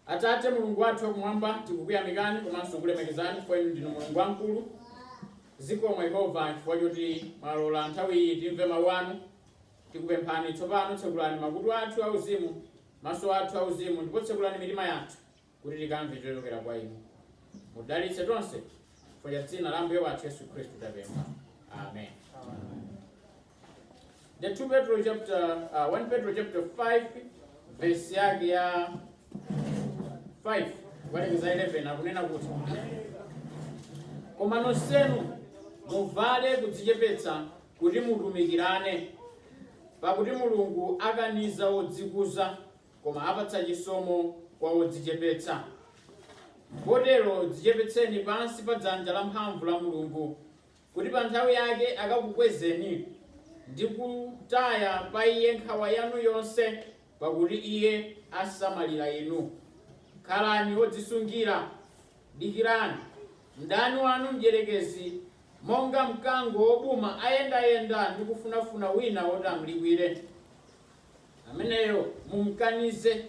Atate Mulungu wathu wakumwamba, tikukuyamikani komanso kulemekezani chifukwa inu ndinu Mulungu wamkulu. Zikomo Yehova chifukwa choti mwalola nthawi iyi timve mawu anu. Tikupemphani tsopano, tsekulani makutu athu auzimu, maso athu auzimu, ndipo tsekulani mitima yathu kuti tikamve chochokera kwa inu. Mudalitse tonse chifukwa cha dzina la Ambuye wathu Yesu Khristu tapempha. Amen. The 2 Petro chapter, uh, 1 Petro chapter 5 verse yake ya 5 kukalekeza 11 akunena kuti koma nonsenu muvale kudzichepetsa kuti mutumikirane pakuti mulungu akaniza wodzikuza koma apatsa chisomo kwa wodzichepetsa potero dzichepetseni pansi pa dzanja la mphamvu la mulungu kuti pa nthawi yake akakukwezeni, ndi kutaya pa Iye nkhawa yanu yonse, pakuti Iye asamalira inu. Khalani odzisungira, dikirani. Mdani wanu Mdyerekezi, monga mkango wobuma, ayendayenda ndi kufunafuna wina woti amlikwire. Ameneyo mumkanize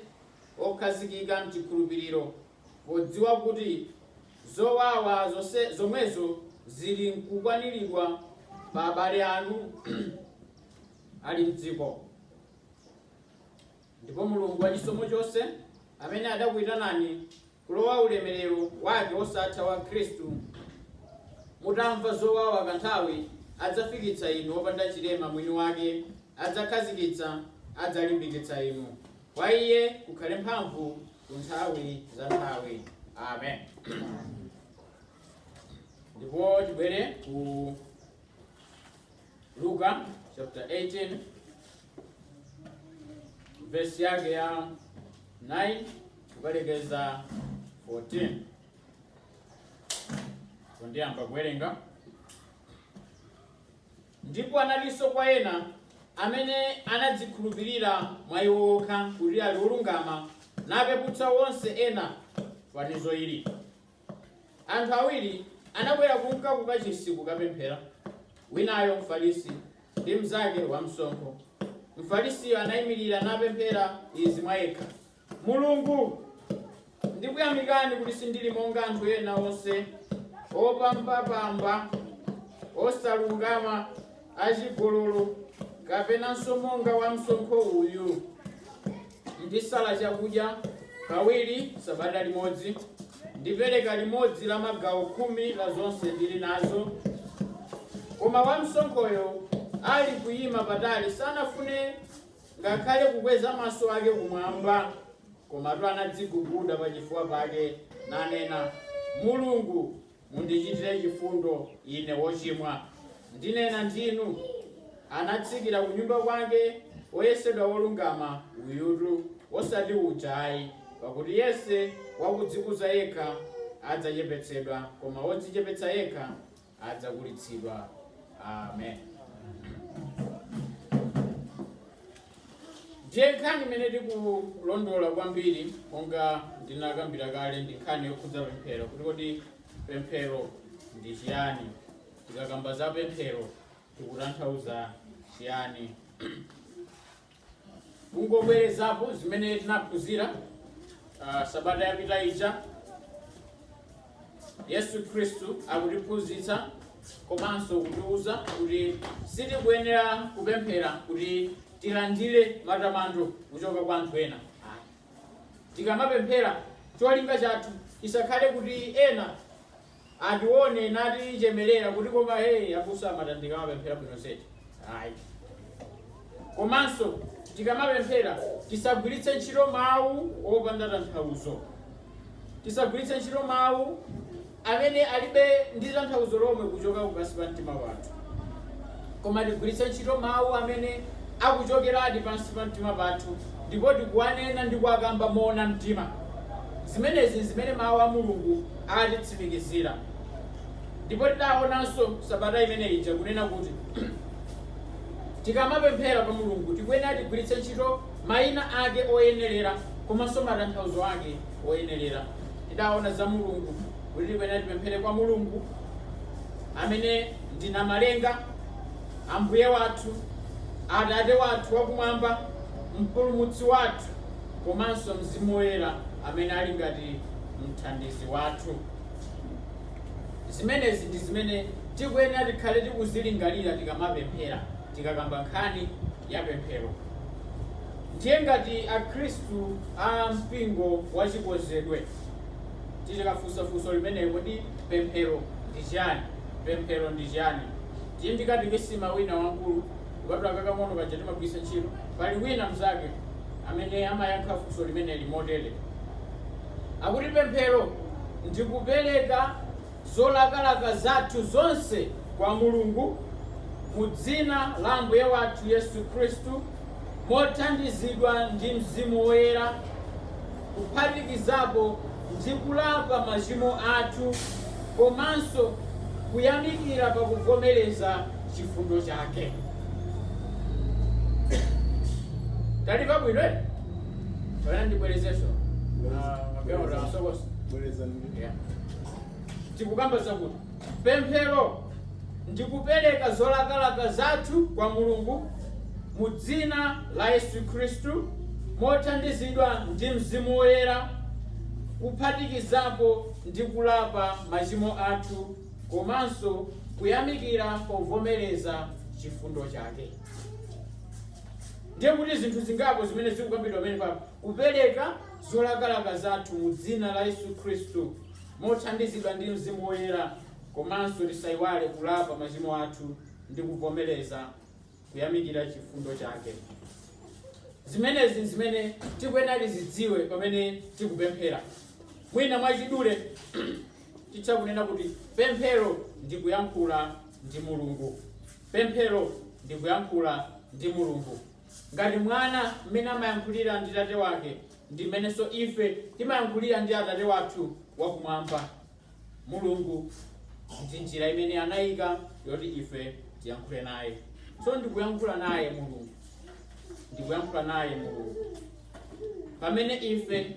okhazikika m'chikhulupiriro, podziwa kuti zowawa zomwezo ziri mkukwaniridwa pa abale anu ali m'dziko. Ndipo Mulungu wa chisomo chonse, amene adakuyitanani kulowa ulemerero wake wosatha wa Khristu. Mutamva zowawa kanthawi, adzafikitsa inu opanda chilema mwini wake, adzakhazikitsa, adzalimbikitsa inu. Kwa Iye kukhale mphamvu ku nthawi za nthawi. Amen. Ndipo tibwere ku Luka chapter 18 verse yake ya 9 kukalekeza 14 kundiyamba kuwerenga ndipo analinso kwa ena amene anadzikhulupirira mwa iwo okha kuti ali olungama napeputsa onse ena fanizo ili Anthu awiri anakwera kunka ku Kachisi kukapemphera, winayo Mfarisi, ndi mnzake wamsonkho. Mfarisiyo anaimirira napemphera izi mwa yekha, Mulungu, ndikuyamikani kuti sindili monga anthu ena onse, opambapamba, osalungama, achigololo, kapenanso monga wamsonkho uyu. Ndisala chakudya kawiri sabata limodzi, ndipereka limodzi la magawo khumi la zonse ndili nazo. Koma wamsonkhoyo ali kuyima patali sanafune ngakhale kukweza maso ake kumwamba, komatu anadziguguda pachifuwa pake, nanena, Mulungu, Mundichitire chifundo ine wochimwa. Ndinena ndinu, Anatsikira kunyumba kwake woyesedwa wolungama uyutu, osati uja ayi, pakuti yense wakudzikuza yekha adzachepetsedwa, koma wodzichepetsa yekha adzakulitsidwa. Amen. Ndiye nkhani imene tikulondola kwambiri monga ndinakambira kale ndi nkhani yokhudza pemphero kuti kodi pemphero ndi chiyani tikakamba za pemphero tikutanthauza chiyani kungobwerezapo zimene tinaphunzira ah, sabata yapita ija Yesu Khristu akutiphunzitsa komanso kutiwuza kuti sitikuyenera kupemphera kuti tilandire matamando kuchoka kwa anthu ena. Tikamapemphera cholinga chathu chisakhale kuti ena atione natichemerera kuti koma hey abusa a Matandika amapemphera bwino zedi ayi Komanso tikamapemphera tisagwiritse ntchito mawu opanda tanthauzo. Tisagwiritse ntchito mawu amene alibe ndi tanthauzo lomwe kuchoka kupansi pa mtima pathu, koma tigwiritse ntchito mawu amene akuchokeradi pansi pa mtima pathu ndipo tikuwanena ndi kuwakamba moona mtima. Zimenezi zimene Mawu a Mulungu atitsimikizira. Ndipo tidaonanso sabata imene ija kunena kuti Tikamapemphera kwa Mulungu tikuyenera tigwiritse ntchito maina ake oyenerera komanso matanthauzo ake oyenerera. Tidaona za Mulungu kuti tikuyenera tipemphere kwa Mulungu amene ndi namalenga, ambuye wathu, atate wathu wakumwamba, mpulumutsi wathu komanso mzimu woyera amene ali ngati mthandizi wathu. Zimenezi ndi zimene tikuyenera tikhale tikuzilingalira tikamapemphera, tikakamba nkhani ya pemphero. Ndiye ngati Akhristu a mpingo wa Chikonzedwe tikafunsa funso limeneli, kodi pemphero ndi chiyani? Pemphero ndi chiyani? Ndiye m'katekisima wina wamkulu kupatula kakang'ono kaja timagwiritsa ntchito, pali wina mnzake amene amayankha funso limeneli motere. akuti pemphero ndi kupereka zolakalaka zathu zonse kwa Mulungu mu dzina la Ambuye wathu Yesu Khristu mothandizidwa ndi Mzimu Woyera kuphatikizapo ndi kulapa machimo athu komanso kuyamikira pa kuvomereza chifundo chake. Talimva bwino. Mwina ndibwerezenso. Ah, mapema utasokosa. Yeah. tikukamba zakuti pemphero ndikupereka zolakalaka zathu kwa mulungu mu dzina la yesu khristu mothandizidwa ndi mzimu woyera kuphatikizapo ndi kulapa machimo athu komanso kuyamikira povomereza chifundo chake Ndiye kuti zinthu zingapo zimene zikukambidwa pamenepa, kupereka zolakalaka zathu mu dzina la Yesu Khristu mothandizidwa ndi Mzimu Woyera komanso tisayiwale kulapa machimo athu ndi kuvomereza kuyamikira chifundo chake. Zimene zimene tikuyenera tizidziwe pamene tikupemphera. Mwina mwachidule titha kunena kuti pemphero ndi kuyankhula ndi Mulungu. Pemphero ndi kuyankhula ndi Mulungu. Ngati mwana mmene amayankhulira ndi tate wake, ndi mmenenso ife timayankhulira ndi Atate wathu wakumwamba, Mulungu. Ndi njira imene anaika yoti ife tiyankhule naye. So ndi kuyankhula naye Mulungu. Ndi kuyankhula naye Mulungu. Pamene ife.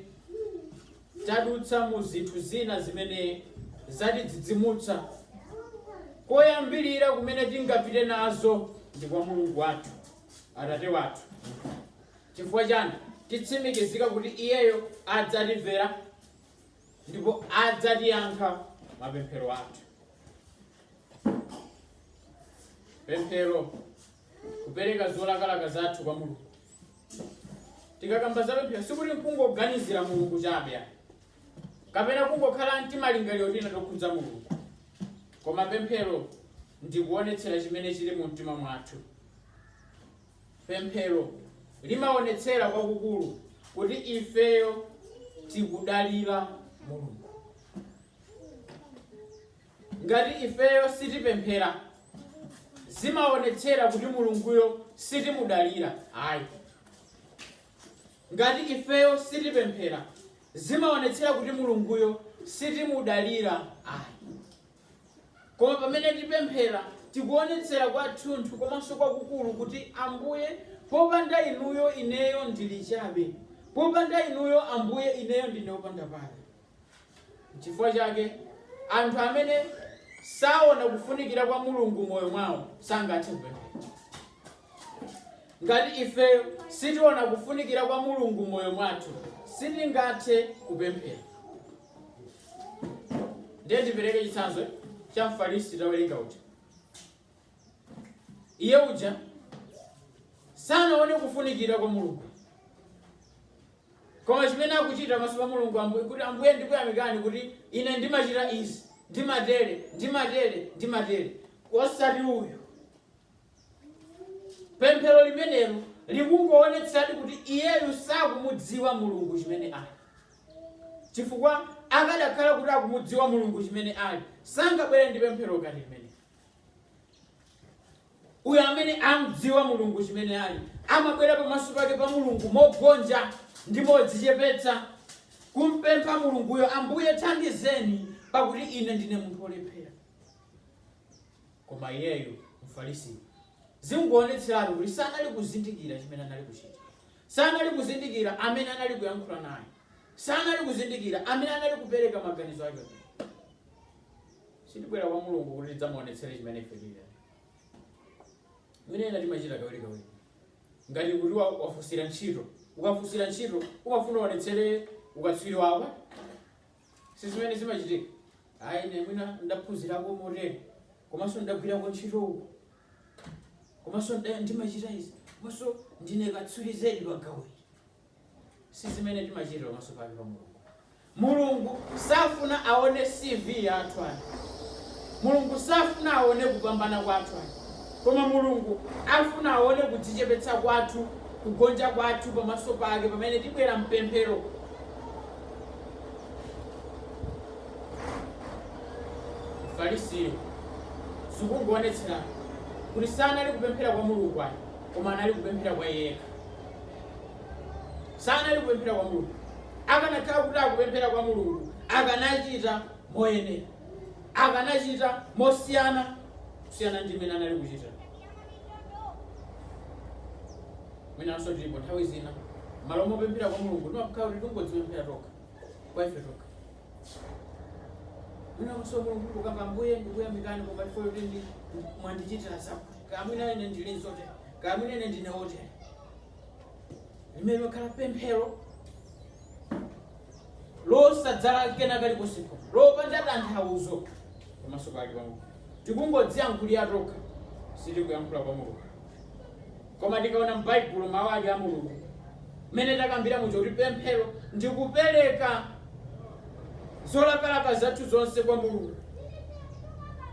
tadutsa mu zinthu zina zimene zatidzidzimutsa. Koyambirira kumene tingapite nazo ndi kwa Mulungu wathu, Atate wathu. Chifukwa chani? Titsimikizika kuti iyeyo adzatimvera ndipo adzatiyankha mapemphero athu. Pemphero, kupereka zolakalaka zathu kwa Mulungu. tikakamba za pemphero sikuti nkungoganizira mulungu chabe ayi. kapena kungokhala ndi timalingaliro tina tokhudza mulungu koma pemphero ndikuonetsera chimene chili mu mtima mwathu pemphero limaonetsera kwakukulu kuti ifeyo tikudalira mulungu Ngati ifeyo sitipemphera, zimaonetsera kuti Mulunguyo sitimudalira ayi. Ngati ifeyo sitipemphera, zimaonetsera kuti Mulunguyo sitimudalira ayi. Koma pamene tipemphera, tikuonetsera kwathunthu komanso kwakukulu kuti, Ambuye, popanda inuyo ineyo ndili chabe. Popanda inuyo Ambuye ineyo ndine wopanda pake. Nchifukwa chake, anthu amene saona kufunikira kwa Mulungu moyo mwawo sangathe kupemphera. Ngati ife sitiona kufunikira kwa Mulungu moyo mwathu, sitingathe kupemphera. Ndiye ndipereke chitsanzo cha Mfarisi tawerenga uja. Iye uja sanaone kufunikira kwa Mulungu. Koma chimene akuchita pamaso pa Mulungu, kuti Ambuye ndikuyamikani kuti ine ndimachita izi, ndimatere, ndimatere, ndimatere. Osati uyu. Pemphero limenelo likungowonetsadi kuti iyeyu sakumudziwa Mulungu chimene ali. Chifukwa akadakhala kuti akumudziwa Mulungu chimene ali, sangabwere ndi pemphero ngati limenelo. uyo amene amdziwa mulungu chimene ali amabwera pamaso pake pa mulungu mogonja ndi modzichepetsa kumpempha mulunguyo ambuye thandizeni pakuti ine ndine munthu olephera koma iyeyo mfarisi zingoonetseratu kuti sanali kuzindikira chimene anali kuchita sanali kuzindikira amene anali kuyankhula naye sanali kuzindikira amene anali kupereka maganizo ake Sitibwera kwa Mulungu kuti tidzamuonetsere chimene ife tili ayi. Mmene ena timachita kawirikawiri. Ngati kuti wa- wafunsira ntchito, ukafunsira ntchito umafuna uonetsere ukatswiri wako. Si zimene zimachitika. Ayi ine mwina ndaphunzirako motere, komanso ndagwirako ntchito uku, komanso nda- ndimachita izi, komanso ndine katswiri zedi pa gawo ili. Si zimene timachita pamaso pake pa Mulungu. Mulungu safuna aone CV yathu ayi. Mulungu safuna aone kupambana kwathu ayi. Koma Mulungu afuna aone kudzichepetsa kwathu, kugonja kwathu pamaso pake pamene tibwera mpemphero. Mfarisiyo zikungoonetsera kuti sanali kupemphera kwa Mulungu ayi, koma anali kupemphera kwa iye yekha. sanali kupemphera kwa Mulungu. Akanakhala kuti akupemphera kwa Mulungu, akanachita moyenera, akanachita mosiyana kusiyana ndi mmene anali kuchita. Mwinanso tilipo nthawi zina malo mopemphera kwa Mulungu timakhala kuti tingodzipemphera tokha kwa ife tokha, Mwinanso Mulungu kukamba mbuye ndikuyamikani koma chifukwa kuti ndi mwandichitira zakuti. Kaya mwina ine ndili motere. Kaya mwina ine ndine wotere. Limene limakhala pemphero losadzala kena kalikonsepo lopanda tanthauzo pamaso pake pa Mulungu. Tikungodziyankhulira tokha sitikuyankhula kwa Mulungu. Koma tikaona m'Baibulo, Mawu ake a Mulungu, mmene takambira muja kuti pemphero ndi kupereka zolakalaka zathu zonse kwa Mulungu,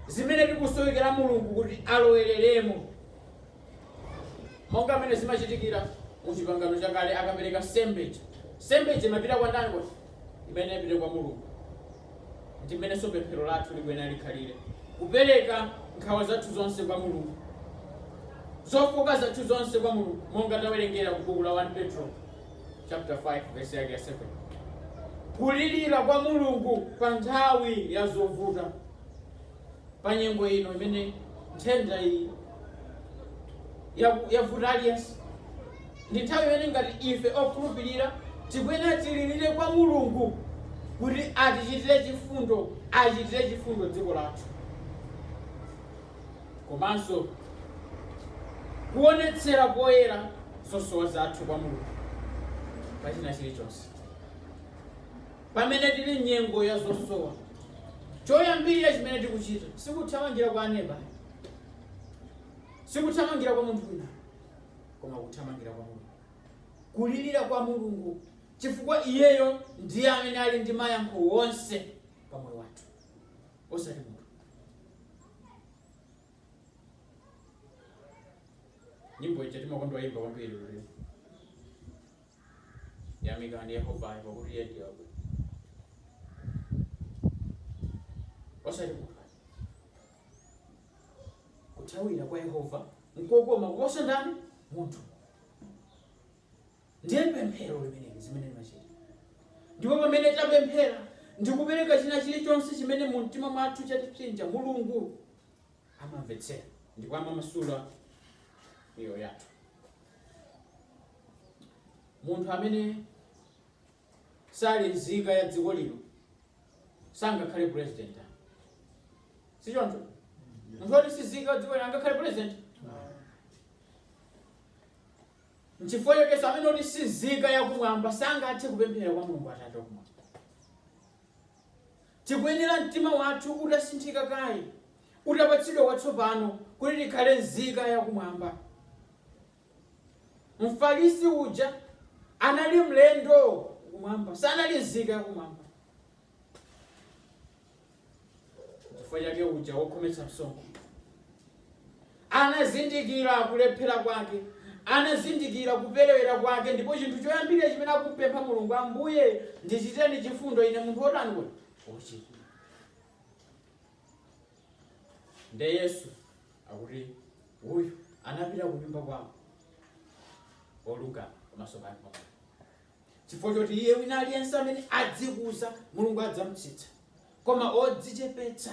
zimene tikusowekera Mulungu kuti alowereremo, monga mmene zimachitikira mu Chipangano Chakale akapereka nsembe ija. Nsembe ija imapita kwa ndani? Imene imapita kwa Mulungu. Ndi mmenenso pemphero lathu likuyenera likhalire, kupereka nkhawa zathu zonse kwa Mulungu, zofooka zathu zonse kwa Mulungu, monga tawerengera ku buku la 1 Petro chapter 5 verse yake ya 7 kulirira kwa Mulungu pa nthawi ya zovuta. pa nyengo ino imene nthenda iyi yaku- yavuta aliyense ndi nthawi imene ngati ife okhulupirira tikuyenera tilirire kwa mulungu kuti atichitire chifundo achitire chifundo dziko lathu komanso kuonetsera poyera zosowa zathu kwa mulungu pachina chilichonse Pamene tili m'nyengo ya zosowa, choyambirira chimene tikuchita si kuthamangira kwa aneba ayi, si kuthamangira kwa munthu wina ayi, koma kuthamangira kwa Mulungu, kulirira kwa Mulungu chifukwa iyeyo ndiye amene ali ndi mayankho onse pa moyo wathu, osati munthu. Nyimbo ija timakonda kuimba kwambiri lero. yamikani yehova pakuti iye ndiye wabwino osati munthu kuthawira kwa yehova nkokoma kuposa ndani munthu ndiye pemphero limeneli zimene limachita ndipo pamene tapemphera ndikupereka china chilichonse chimene mu mtima mwathu chatipsinja mulungu amamvetsera ndipo amamasula miyoyo yathu munthu amene sali nzika ya dziko lino sangakhale president sichoncho munthu woti si nzika ya dziko lino angakhale president nchifukwa chakenso amene woti si nzika yakumwamba sangathe kupemphera kwa mulungu atate wakumwamba Tikuyenera mtima wathu utasinthika kaye, utapatsidwa watsopano kuti tikhale nzika ya kumwamba. Mfarisi uja anali mlendo kumwamba, sanali nzika ya kumwamba. Chifukwa chake uja wokhometsa msonkho Anazindikira kulephera kwake. Anazindikira kuperewera kwake, ndipo chinthu choyambirira chimene akumupempha Mulungu, Ambuye, ndichiteni chifundo ine, munthu wotani kodi? Wochimwa. Nde Yesu akuti uyu anapita kunyumba kwawo olungama pamaso pake. chifukwa choti iye wina aliyense amene adzikuza mulungu adzamutsitsa koma odzichepetsa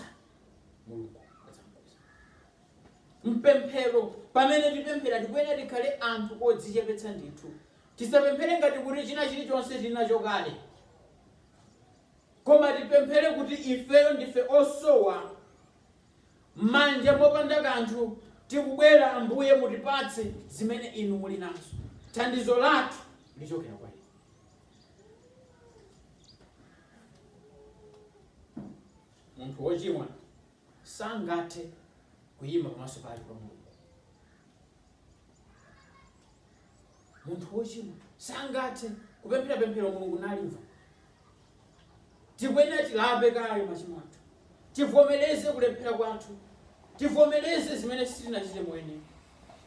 mulungu adzamukweza mpemphero pamene tipemphera tikuyenera tikhale anthu odzichepetsa ndithu tisapemphere ngati kuti china chilichonse tili nacho kale koma tipemphere kuti ifeyo ndife osowa mmanja mopanda kanthu, tikubwera, Ambuye, mutipatse zimene Inu muli nazo. Thandizo lathu lichokera kwa Inu. Munthu wochimwa sangathe kuyima pamaso pake pa Mulungu. Munthu wochimwa sangathe kupemphera pemphero Mulungu nalimva. tikuyenera tilape kaye machimo athu tivomereze kulephera kwathu tivomereze zimene sitinachite moyenera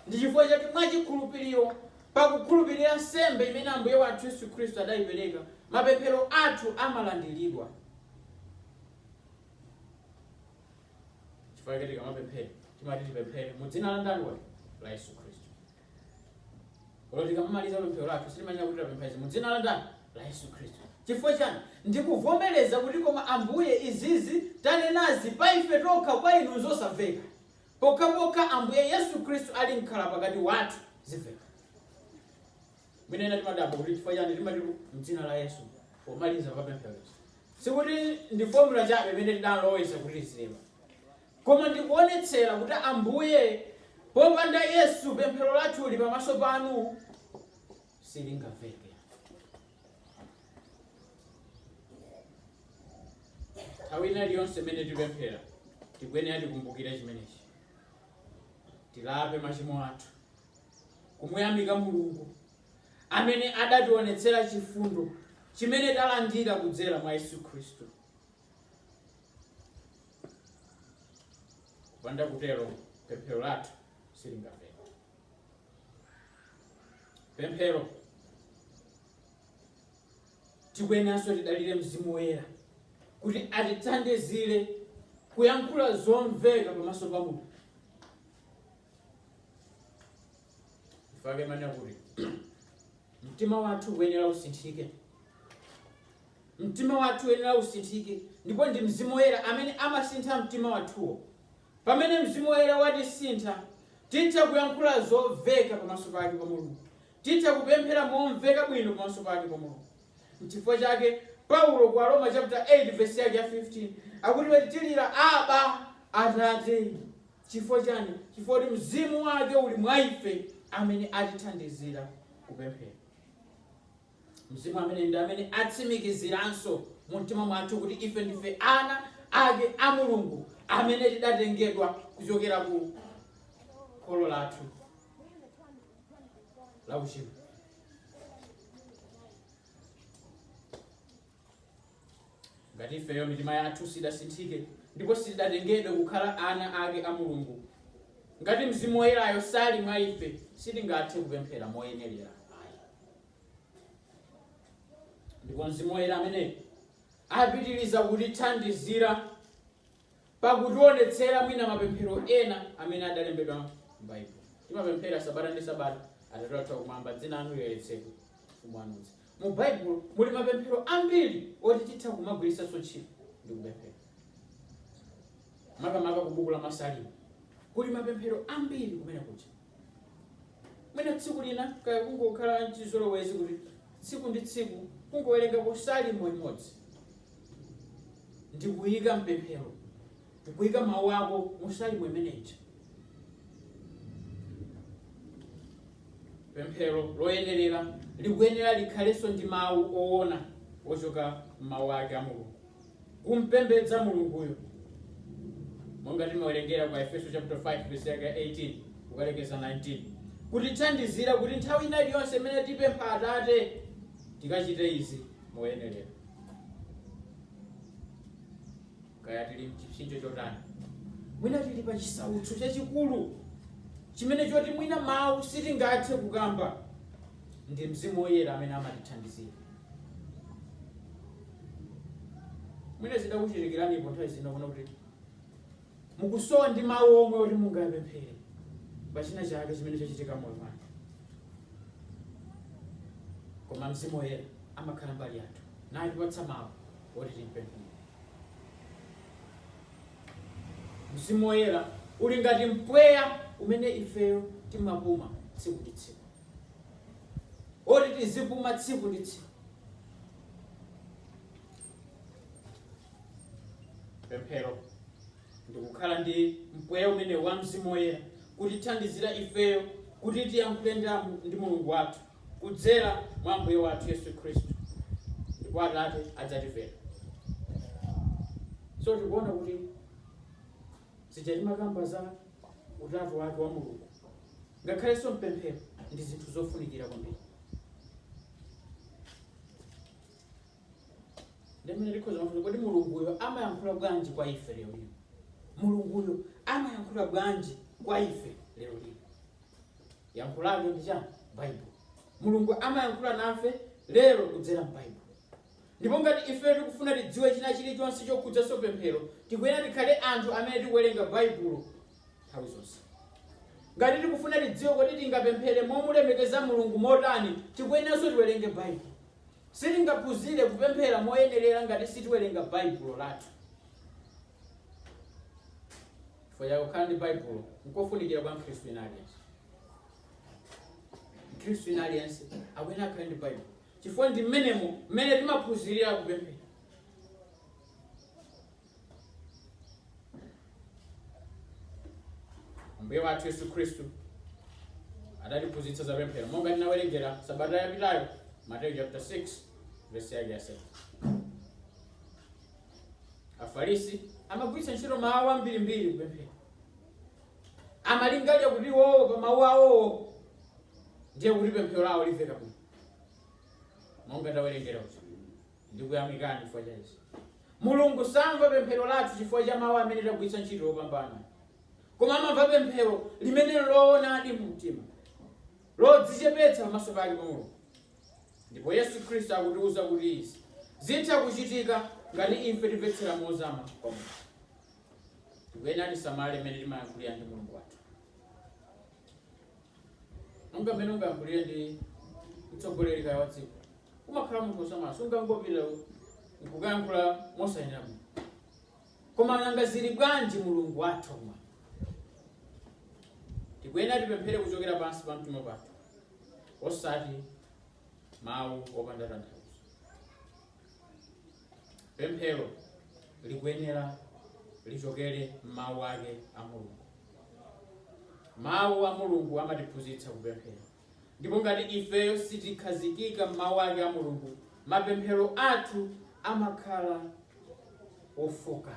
ndi chifukwa chake mwachikhulupiriro pakukhulupirira nsembe imene ambuye wathu yesu khristu adayipereka mapemphero athu amalandiridwa chifukwa chake tikamapemphera timati tipemphere mu dzina la ndani la yesu khristu Olo tikamamaliza pemphero lathu timanena kuti tapempha izi mu dzina la ndani la Yesu Khristu. Chifukwa chani? Ndikuvomereza kuti koma Ambuye izizi tanenazi pa ife tokha kwa inu nzosamveka. Pokhapokha Ambuye Yesu Khristu ali mkhala pakati wathu zimveka. Mwina ena timadabwa kuti chifukwa chani timati mdzina la Yesu pomaliza pa pemphero. Sikuti ndi formula chabe imene tidaloweza kuti zilema. Koma ndikuonetsera kuti Ambuye, popanda Yesu pemphero lathuli pamaso panu silingamveke. Nthawi ina iliyonse imene tipemphera, tikuyenera tikumbukire chimenechi. Tilape machimo athu, kumuyamika Mulungu amene adationetsera chifundo chimene talandira kudzera mwa Yesu Khristu. kupanda kutero pemphero lathu silingamveka pemphero tikuyeneranso tidalire mzimu woyera kuti atithandizire kuyankhula zomveka pamaso pa mulungu chifukwa chake ndimanena kuti mtima wathu ukuyenera usinthike mtima wathu uyenera usinthike ndipo ndi mzimu woyera amene amasintha mtima wathuwo pamene mzimu woyera watisintha titha kuyankhula zoveka pamaso pake pa mulungu titha kupemphera momveka bwino pamaso pake pa mulungu nchifukwa chake paulo kwa aroma chapter 8 verse yake ya 15 akuti tilira aba atate Chifukwa chani? Chifukwa kuti Mzimu Wake uli mwa ife amene atithandizira kupemphera. Mzimu amene ndi amene atsimikiziranso mu mtima mwathu kuti ife ndife ana ake a Mulungu amene tidatengedwa kuchokera ku kholo lathu la uchimo. ngati ifeyo mitima yathu sidasinthike ndipo sidatengedwe kukhala ana ake a mulungu ngati mzimu woyerayo sali mwa ife sitingathe kupemphera moyenerera ayi ndipo mzimu woyera amene apitiriza kutithandizira pakutionetsera mwina mapemphero ena amene adalembedwa m'Baibulo. Timapemphera sabata ndi sabata, Atate wathu wakumwamba, dzina lanu liyeretsedwe, ufumu wanu udze. Mu Baibulo muli mapemphero ambiri oti titha kumagwiritsanso ntchito ndi kupemphera. Makamaka ku buku la Masalimo kuli mapemphero ambiri kumene kuja. mwina tsiku lina kaya kungokhala chizolowezi kuti tsiku ndi tsiku kungowerengako salimo imodzi ndikuyika mpemphero kuyika mawu ako mu salimo imeneja pemphero loyenerera likuyenera likhalenso ndi mawu owona ochoka m'mawu ake a mulungu kumpembedza Mulunguyo, monga timawerengera kwa Aefeso chapter 5 verse yake 18 kukalekeza 19, kutithandizira kuti nthawi ina iliyonse imene tipempha Atate tikachite izi moyenerera, kaya tili mchipsinjo chotani, mwina tili pa chisautso chachikulu chimene choti mwina mawu sitingathe kukamba, ndi Mzimu Woyera amene amatithandizira. mwina zidakuchitikiranipo nthawi zina kuona kuti mukusowa ndi mawu omwe oti mungapemphere pa china chake chimene chachitika m'moyo mwanu koma mzimu woyera amakhala mbali yathu natipatsa mawu oti tipemphere mzimu woyera uli ngati mpweya umene ifeyo timapuma tsiku ndi tsiku oti tizipuma tsiku ndi tsiku. Pemphero ndikukhala ndi mpweya umene wa Mzimu Woyera kutithandizira ifeyo kuti tiyankhule ndi Mulungu wathu kudzera mwa Ambuye wathu Yesu Khristu, ndipo Atate adzatimvera. So tikuona kuti Zija timakamba za utatu wake wa Mulungu ngakhalenso mpemphero ndi zinthu zofunikira kwambiri. Ndiye mwina tikhoza kufunsa kodi Mulunguyo amayankhula bwanji kwa ife lero lino? Mulunguyo amayankhula bwanji kwa ife lero lino? Yankho lake ndi chani? Baibulo. Mulungu amayankhula nafe lero kudzera m'Baibulo. Ndipo ngati ife tikufuna tidziwe china chili chonse chokhudzanso pemphero, tikuyenera tikhale anthu amene tikuwerenga Baibulo nthawi zonse. Ngati tikufuna tidziwe kuti tingapemphere momulemekeza Mulungu motani, tikuyeneranso tiwerenge Baibulo. Sitingaphunzire kupemphera moyenerera ngati sitiwerenga Baibulo lathu. Chifukwa chake, kukhala ndi Baibulo nkofunikira kwa Mkhristu wina aliyense. Mkhristu wina aliyense akuyenera akhale ndi Baibulo. chifukwa ndi mmenemo mmene timaphunzirira kupemphera ambuye wathu yesu khristu adatiphunzitsa za pemphero monga tinawerengera sabata yapitayo mateyu chapter 6 verse yake ya 7 afarisi amagwiritsa ntchito mawu ambirimbiri kupemphera amalingalira kuti iwowo pa mawu awowo ndiye kuti pemphero lawo limveka bwino monga tawerengera kuti ndikuyamikani chifukwa cha izi mulungu samva pemphero lathu chifukwa cha mawu amene tagwiritsa ntchito opambana koma amamva pemphero limene loonadi mu mtima lodzichepetsa pamaso pake pa mulungu ndipo yesu khristu akutiwuza kuti izi zitha kuchitika ngati ife timvetsera mozama kwa mulungu tikuyenera tisamale mmene timayankhulira ndi mulungu wathu monga mmene ungayankhulire ndi mtsogoleri kaya wa dziko umakhala munthu wosamala sungangopita nkukayankhula mosayenera bwino koma nanga zili bwanji mulungu wathu kumwamba tikuyenera tipemphere kuchokera pansi pa mtima pathu osati mawu opanda tanthauzo Pemphero likuyenera lichokere m'mawu ake a Mulungu. Mawu a Mulungu amatiphunzitsa kupemphera, ndipo ngati ifeyo sitikhazikika m'mawu ake a Mulungu, mapemphero athu amakhala ofoka.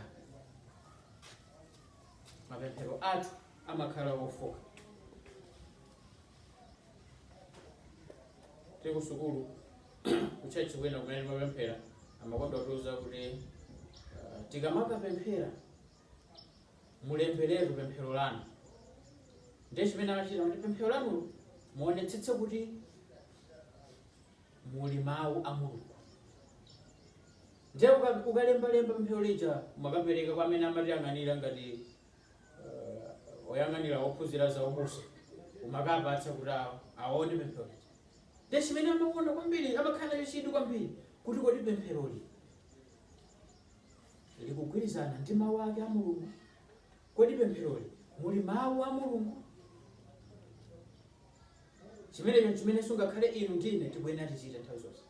Mapemphero athu amakhala ofoka. Tiri kusukulu Kutchalitchi kwina kumene ndimapemphera amakonda kutiuza kuti eh, tikamakapemphera mulemberetu pemphero lanu ndiye chimene amachita kuti pemphero lanulo muonetsetse kuti muli mawu a mulungu ndiye uka- ukalembalemba pemphero lija umakapereka kwa amene amatiyang'anira ngati eh, oyang'anira ophunzira za ubusa umakapatsa kuti awo aone pemphero lija Ndiye chimene amakonda kwambiri, amakhala nacho chidwi kwambiri kuti kodi pempheroli likugwirizana ndi mawu ake a Mulungu? Kodi pempheroli muli mawu a Mulungu? Chimenecho n'chimenenso ngakhale inu ndi ine tikuyenera tichite nthawi zonse.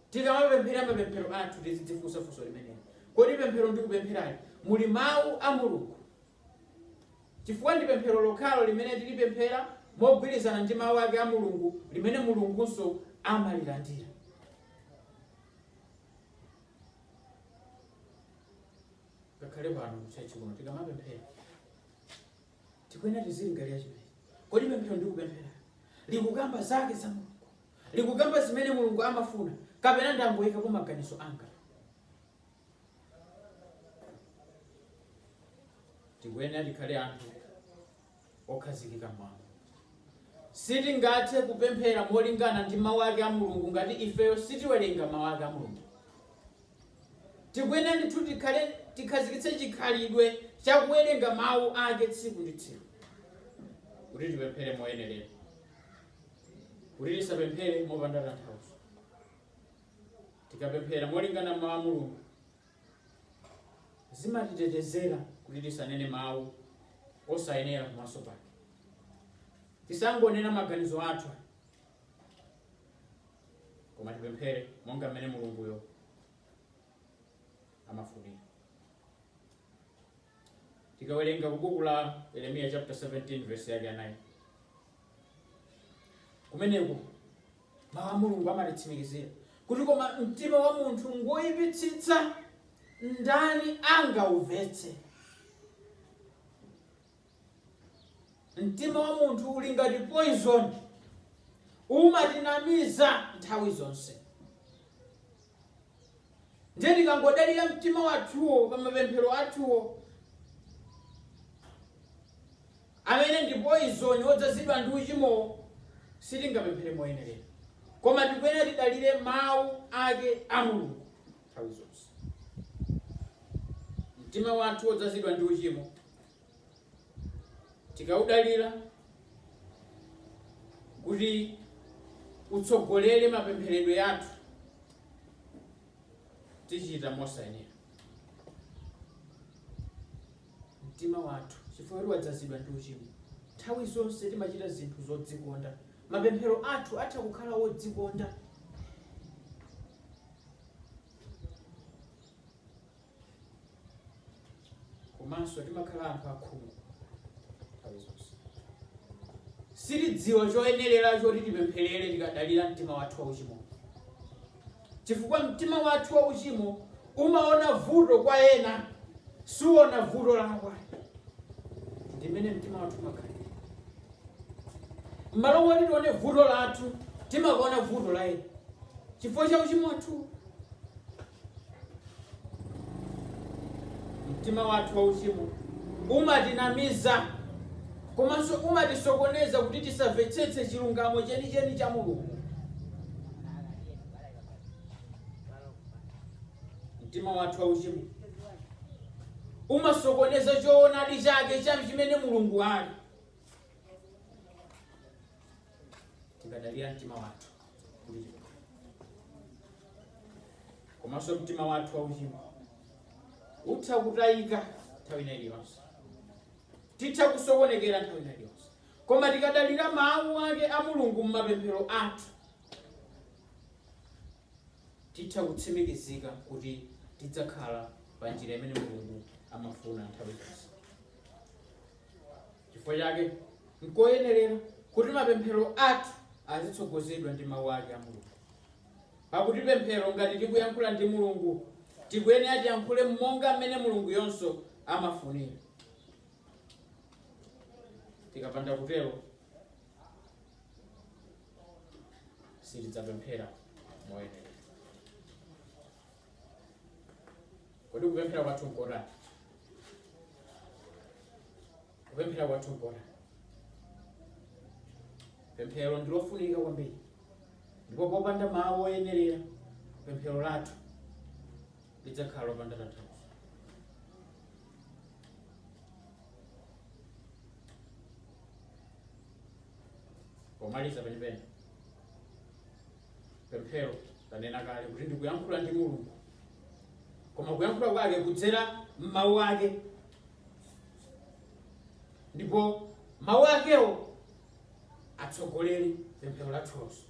Tikamapemphera mapemphero athu tizidzifunsa funso limeneli. Kodi pemphero ndikupempherali muli mawu a Mulungu? Chifukwa ndi pemphero lokhalo limene tilipemphera mogwirizana ndi Mawu ake a Mulungu limene Mulungunso amalilandira. Ngakhale pano mutchalitchi kuno tikamapemphera, tikuyenera tizilingalira chimene kodi pemphero ndikupempherali likukamba zake za Mulungu, likukamba zimene Mulungu amafuna, kapena ndangoyikapo maganizo anga? tikuyenera tikhale anthu okhazikika m'mawu sitingathe kupemphera molingana ndi mawu ake a mulungu ngati ifeyo sitiwerenga mawu ake a mulungu tikuyenera ndithu tikhale tikhazikitse chikhalidwe cha kuwerenga mawu ake tsiku ndi tsiku kuti tipemphere moyenerera kuti tisapemphere mopanda tanthauzo Tikapemphera molingana m'Mawu a Mulungu, zimatitetezera kuti tisanene mawu osayenera pamaso pake. Tisangonena maganizo athu, koma tipemphere monga mmene Mulunguyo amafunira. Tikawerenga ku buku la Yeremiya chapter 17 verse yake ya 9 kumeneko mawu a mulungu amatitsimikizira kuti koma mtima wa munthu ngoyipitsitsa ndani angaumvetse mtima wa munthu uli ngati poison umatinamiza nthawi zonse Ndiye tikangodalira mtima wathuwo pa mapemphero athuwo, amene ndi poizoni wodzazidwa ndi uchimowo, sitingapemphere moyenerera. Koma tikuyenera tidalire Mawu ake a Mulungu nthawi zonse. Mtima wathu wodzazidwa ndi uchimo tikaudalira kuti utsogolere mapempheredwe athu tichita mosayenera mtima wathu chifukwa kuti wadzazidwa ndi uchimo nthawi zonse timachita zinthu zodzikonda mapemphero athu atha kukhala wodzikonda komanso timakhala anthu akhungu nthawi zonse sitidziwa choyenerera choti tipempherere tikadalira mtima wathu wauchimo chifukwa mtima wathu wauchimo umaona vuto kwa ena suona vuto lake ndimene mtima wathu umakhalira mmalo moti tione vuto lathu timaona vuto la ena chifukwa cha uchimo wathu mtima wathu wauchimo umatinamiza komanso umatisokoneza kuti tisamvetsetse chilungamo chenicheni cha mulungu mtima wathu wauchimo umasokoneza choonadi chake cha chimene mulungu ali tikadalira mtima wathu kuti komanso mtima wathu wauchimo utha kutayika nthawi ina iliyonse titha kusokonekera nthawi ina iliyonse koma tikadalira mawu ake a mulungu m'mapemphero athu titha kutsimikizika kuti tidzakhala pa njira imene mulungu amafuna nthawi zonse Chifukwa chake, nkoyenerera kuti mapemphero athu azitsogozedwa ndi Mawu ake a Mulungu. Pakuti pemphero ngati tikuyankhula ndi Mulungu, tikuyenera tiyankhule monga mmene Mulunguyonso amafunira. Tikapanda kutero, sitidzapemphera moyenerera. kodi kupemphera kwathu nkotani kupemphera kwathu nkotani pemphero ndi lofunika kwambiri ndipo popanda mawu oyenerera pemphero lathu lidzakhala lopanda tanthauzo pomaliza penipeni pemphero tanena kale kuti ndikuyankhula ndi mulungu koma kuyankhula kwake kudzera m'mawu ake ndipo mawu akewo atsogolere pemphero lathulonso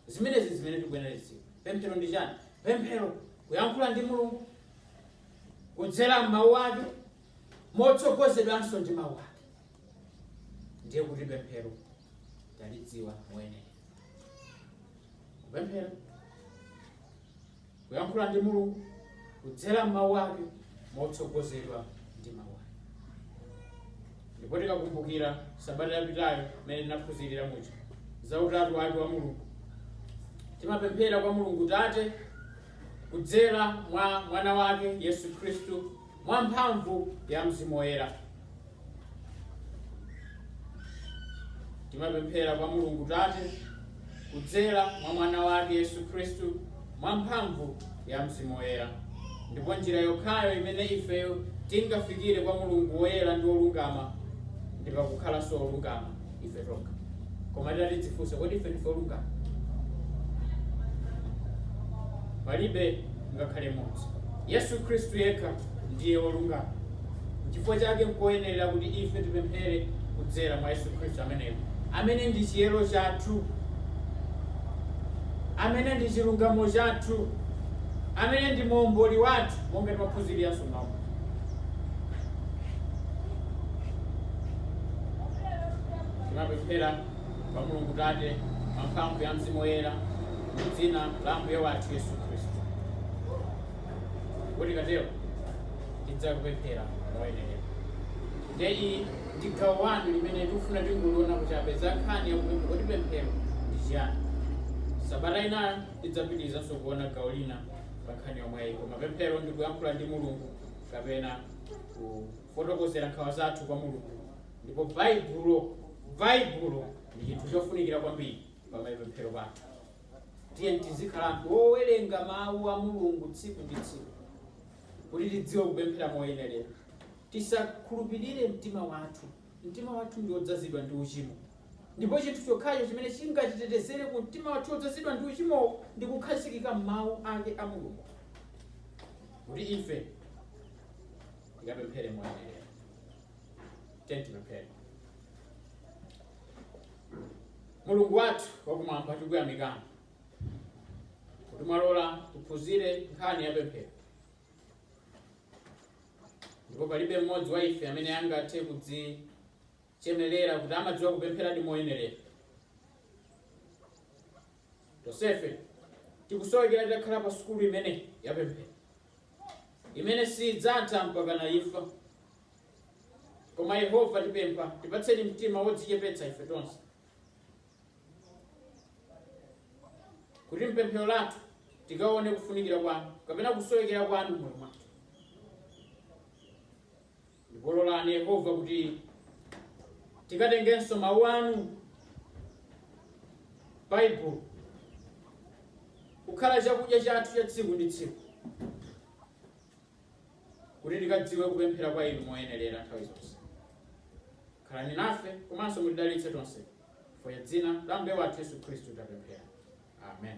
zimenezi zimene tikuyenera kuzidziwa pemphero ndi chani pemphero kuyankhula ndi mulungu kudzera m'mawu ake motsogozedwanso ndi mawu ake ndiye kuti pemphero talidziwa moyenera kupemphera kuyankhula ndi mulungu kudzera m'mawu ake motsogozedwa ndi mawu ake ndipo tikakumbukira sabata yapitayo imene tinaphunzirira muja za utatu wake wa mulungu timapemphera kwa mulungu tate kudzera mwa mwana wake yesu khristu mwa mphamvu ya Mzimu Woyera. Timapemphera kwa Mulungu Tate kudzera mwa mwana wake Yesu Khristu mwa mphamvu ya Mzimu Woyera. Ndipo njira yokhayo imene ifeyo tingafikire kwa Mulungu woyera ndi wolungama ndi pakukhalanso olungama. ife tokha koma titati tidzifunse kodi ife ndife olungama palibe ngakhale mmodzi yesu khristu yekha ndiye wolungama chifukwa chake nkoyenerera kuti ife tipemphere kudzera mwa yesu khristu ameneyo amene ndi chiyero chathu amene ndi chilungamo chathu amene ndi muomboli wathu monga timaphunziriranso mawu Timapemphera kwa Mulungu Tate mwa mphamvu ya Mzimu Woyera mu dzina la Ambuye wathu Yesu Khristu. Kuti tikatero tidzapemphera moyenera. Ndiye iyi ndi gawo wanu limene tikufuna tingoliona kuti apeza nkhani yakupemphera kuti pemphero ndi chiyani. Sabata inayo tidzapitirizanso kuona gawo lina pa nkhani yomweyi koma pemphero ndi kuyankhula ndi Mulungu kapena ku kufotokozera nkhawa zathu kwa Mulungu, ndipo Baibulo, Baibulo ndi chinthu chofunikira kwambiri pa mapemphero athu. Tiyeni tizikhala anthu owerenga mawu a Mulungu tsiku ndi tsiku kuti tidziwe kupemphera moyenerera. Tisakhulupirire mtima wathu. Mtima wathu ndi wodzazidwa ndi uchimo, ndipo chinthu chokhacho chimene chingatitetezere ku mtima wathu wodzazidwa ndi uchimowo ndi kukhazikika m'mawu ake a Mulungu kuti ife tikapemphere moyenerera tiyeni tipemphere mulungu wathu wakumwamba tikuyamikani kuti mwalola tiphunzire nkhani ya pemphero ndipo palibe mmodzi wa ife amene angathe kudzichemerera kuti amadziwa kupempheradi moyenerera tonsefe tikusowekera titakhala pa sukulu imeneyi ya pemphero imene sidzatha mpakana imfa. Koma Yehova, tipempha, tipatseni mtima wodzichepetsa ife tonse, kuti m'pemphero lathu tikaone kufunikira kwanu kapena kusowekera kwanu m'moyo mwathu. Ndipo lolani Yehova kuti tikatengenso mawu anu Baibulo kukhala chakudya chathu cha tsiku ndi tsiku kuti tikadziwe kupemphera kwa inu moyenerera nthawi zonse khalani nafe komanso mutidalitse tonse chifukwa cha dzina la mbuye wathu yesu khristu tapemphera amen.